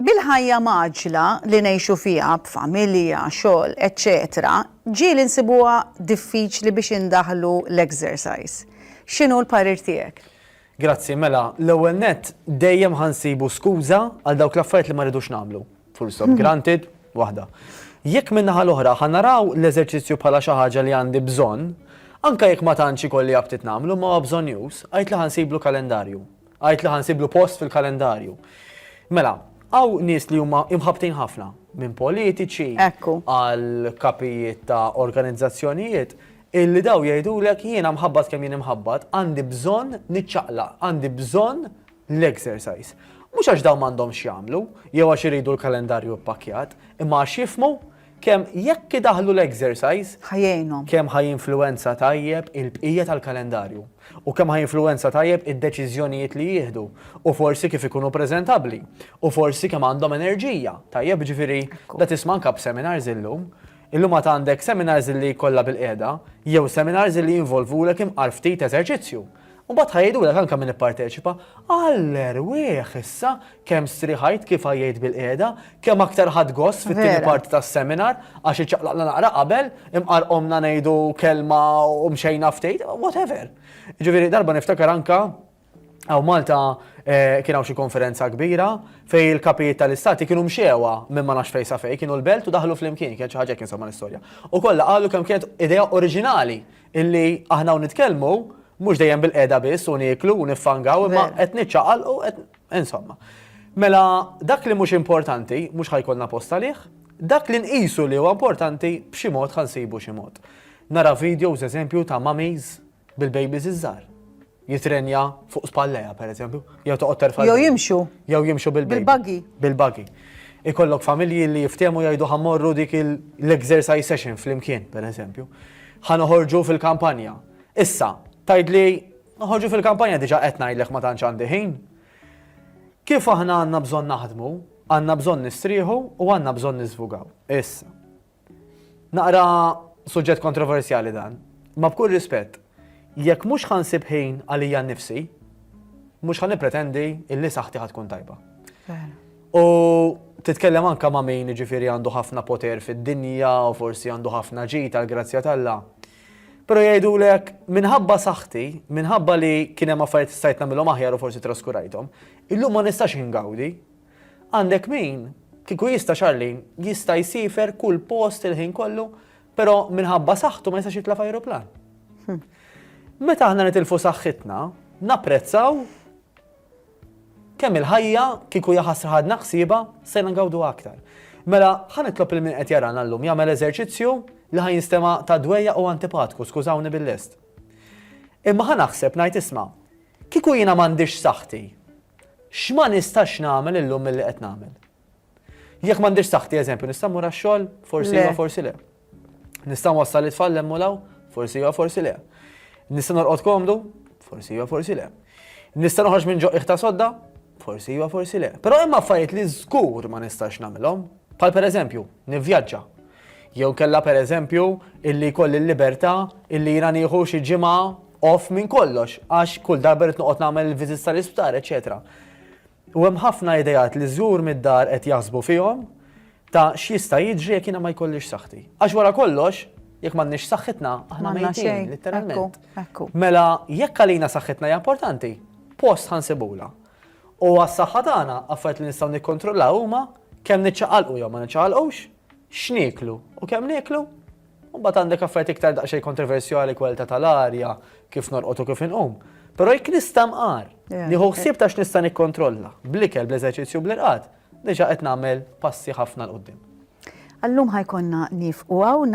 Bil-ħajja mgħaġġla li ngħixu fiha b'familja, xogħol, eċċetera, ġieli nsibuha diffiċli biex indaħħlu l-exercise. X'inhu l-parir tiegħek? Grazzi, mela, l-ewwel nett, dejjem ħa nsibu skuża għal dawk l-affarijiet li ma rridux nagħmlu. Full stop, granted, waħda. Jekk min-naħa l-oħra ħa naraw l-eżerċizzju bħala xi ħaġa li għandi bżonn, anke jekk ma tantx ikolli aptit nagħmlu, ma huwa bżonjuż, għidtli ħa nsiblu kalendarju. Għidt li ħa nsiblu post fil-kalendarju. Mela, hawn nies li huma imħabbtin ħafna minn politiċi għal kapijiet ta' organizzazzjonijiet illi daw jgħidulek jiena mħabbat kemm jien imħabbat għandi bżonn niċċaqlaq, għandi bżonn l-exercise. Mhux għax dawn m'għandhomx jagħmlu, jew għax iridu l-kalendarju ppakkjat, imma għax jifmu Kemm jekk idaħħlu l-exercise. Ħa jgħinhom. Kemm ħa jinfluwenza tajjeb il-bqija tal-kalendarju. U kemm ħa jinfluwenza tajjeb id-deċiżjonijiet li jieħdu. U forsi kif ikunu preżentabbli. U forsi kemm għandhom enerġija. Tajjeb, jiġifieri, da tisma' anke b'seminars illum. Illum għad għandek seminars li jkollha bil-qiegħda, jew seminars li jinvolvulek imqar ftit eżerċizzju. U mbagħad ħa jgħidulek anke min ipparteċipa, Għall-erwieħ issa, kemm striħajt kif għajjejt bil-qiegħda, kemm aktar ħadt gost fit-tieni parti tas-seminar għax iċċaqlaqna naqra qabel, imqarrqomna ngħidu kelma u mxejna ftit, whatever. Jiġifieri darba niftakar anke Hawn Malta eh, kien hawn xi konferenza kbira fej il-kapijiet tal-istati kienu mxewa minn ma nafx fejsa fej, kienu l-belt u daħlu fl-imkien, kien xi ħaġa kien insomma l-istorja. U kollha qalu kemm kienet idea oriġinali illi aħna hawn nitkellmu mhux dejjem bil-qeda biss u nieklu u niffangaw imma qed niċċaqal u qed insomma. Mela dak li mhux importanti mhux ħajkolna posta lih, dak li nqisu li huwa importanti b'xi mod ħansibu xi mod. Nara videos eżempju ta' mummies bil-babies iż-żgħar. jitrenja fuq spalleja, per eżempju, jew toqgħod terfa' Jew jimxu. Jew jimxu bil-baby. Bil-buggy. Bil-buggy. Ikollok familji li jiftehmu jgħidu ħammorru dik l-exercise session flimkien, per eżempju. Ħa noħorġu fil-kampanja. Issa, tgħidli noħorġu fil-kampanja diġà qed ngħidlek ma tantx għandi ħin. Kif aħna għandna bżonn naħdmu, għandna bżonn nistrieħu u għandna bżonn niżvugaw. Issa. Naqra suġġett kontroversjali dan, imma b'kull rispett, jekk mhux ħa nsib ħin għalija nnifsi, mhux ħa nippretendi illi saħħti ħa tkun tajba. U titkellem anka ma' min ġifieri għandu ħafna poter fid-dinja u forsi għandu ħafna ġid tal-grazzja tal-la. Pero jgħidu lek, minħabba saħti, minħabba li kien hemm affarijiet stajt nagħmilhom aħjar u forsi traskurajthom, illum ma nistax ingawdi Għandek min, kieku jista' Charlene, jista' jsiefer kull post il-ħin kollu, però minħabba saħħtu ma jistax jitla' f'ajruplan. Meta aħna nitilfu saħħitna, napprezzaw kemm il-ħajja kieku jaħasra ħadna ħsieba se ngawdu aktar. Mela, ħa nitlob il min qed jarana llum jagħmel eżerċizzju li ħa jinstema' ta' dwejja u antipatku, skużawni bil-lest. Imma ħa naħseb ngħid isma', kieku jiena m'għandix saħħti, X'ma nistax nagħmel illum milli qed nagħmel? Jekk m'għandix saħħti eżempju nista' mmur għax-xogħol? Forsi iva, forsi le. Nista' nwassal it-tfal hemm u law? Forsi iva, forsi le. Nista' norqod komdu? Forsi iva, forsi le. Nista' noħroġ minn ġoqqiħ ta' sodda? Forsi iva, forsi le. Però hemm affarijiet li żgur ma nistax nagħmilhom, bħal pereżempju nivvjaġġa. Jew kellha pereżempju illi jkolli l-libertà illi jiena nieħu xi ġimgħa off minn kollox għax kull darba rrid noqgħod nagħmel il-visits tal-isptar, eċċetera. U hemm ħafna ideat li żżur mid-dar qed jaħsbu fihom ta' x'jista' jiġri jekk jiena ma jkollix saħħti. Għax wara kollox, jekk m'għandniex saħħitna, aħna mejtin, litteralment. Mela, jekk għalina saħħitna hija importanti, post ħansibula. U għas-saħħa tagħna, affarijiet li nistgħu nikkontrollaw huma kemm niċċaqalqu jew ma niċċaqalqux, x'nieklu u kemm nieklu U mbagħad għandek affarijiet iktar daqsxejn kontroversjali, kwalità tal-arja, kif norqod u kif inqum. Però jekk nista' mqar, nieħu ħsieb ta' x'nista' nikkontrolla, bl-ikel, bl-eżerċizzju u bl-irqad, diġà qed nagħmel passi ħafna 'l quddiem. Għal-lum ħa jkollna nieqfu hawn.